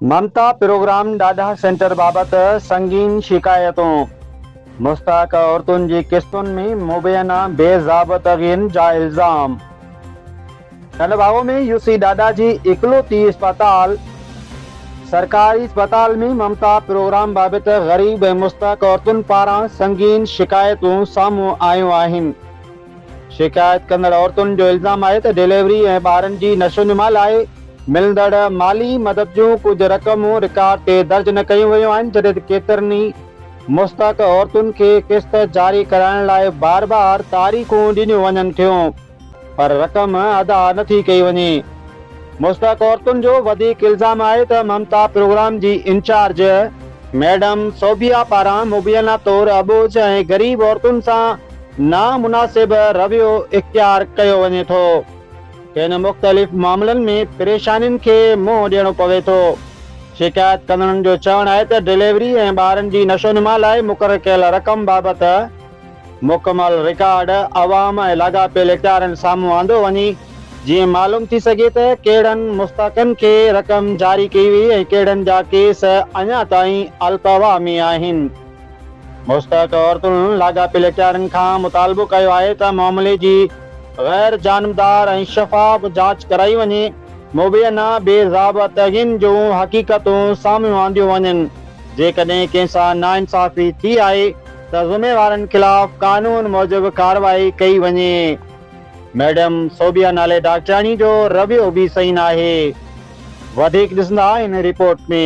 ممتا programme ڏاڍا centre بابت سنگين شڪايتون، مستحق عورتن جي قسطن ۾ مبينا بي ضابطگين جا الزام. ڪنڊ باهو ۾ يو سي ڏاڏا جي اڪلوتي اسپتال، سرڪاري اسپتال ۾ ممتا پروگرام بابت غريب ۽ مستحق عورتن پاران سنگين شڪايتون سامهون آيون آهن. شڪايت ڪندڙ عورتن جو الزام آهي ته ڊليوري ۽ ٻارن جي نشوونما لاء ملندڙ مالي مدد جون ڪجهه رقمون رڪارڊ تي درج نه ڪيون ويون آهن جڏهن ته ڪيترن ئي مستحق عورتن کي قسط جاري ڪرائڻ لاء بار بار تاريخون ڏنيون وڃن ٿيون پر رقم ادا نه ٿي ڪئي وڃي. مستحق عورتن جو وڌيڪ الزام آهي ته ممتا پروگرام جي انچارج ميڊم صوبيا پاران مبينا طور اٻوجهه ۽ غريب عورتن سان نامناسب رويو اختيار ڪيو وڃي ٿو. کين مختلف معاملن ۾ پريشانين کي منهن ڏيڻو پوي ٿو. شڪايت ڪندڙن جو چوڻ آهي ته ڊليوري ۽ ٻارن جي نشونما لاء مقرر ڪيل رقم بابت مڪمل رڪارڊ عوام ۽ لاڳاپيل اختيارين سامهون آندو وڃي جيئن معلوم ٿي سگهي ته ڪهڙن مستحقن کي رقم جاري ڪئي وئي ۽ ڪهڙن جا ڪيس اڃا تائين القوا ۾ آهن. مستحق عورتن لاڳاپيل اختيارين کان مطالبو ڪيو آهي ته معاملي جي غير جانبدار ۽ شفاف جاچ ڪرائي وڃي، مبينا بي ضابطگين جون حقيقتون سامهون آنديون وڃن، جيڪڏهن ڪنهن سان ناانصافي ٿي آهي ته ذميوارن خلاف قانون موجب ڪارروائي ڪئي وڃي. ميڊم صوبيا نالي ڊاڪٽرياڻي جو رويو به صحيح ناهي، وڌيڪ ڏسندا هن رپورٽ ۾.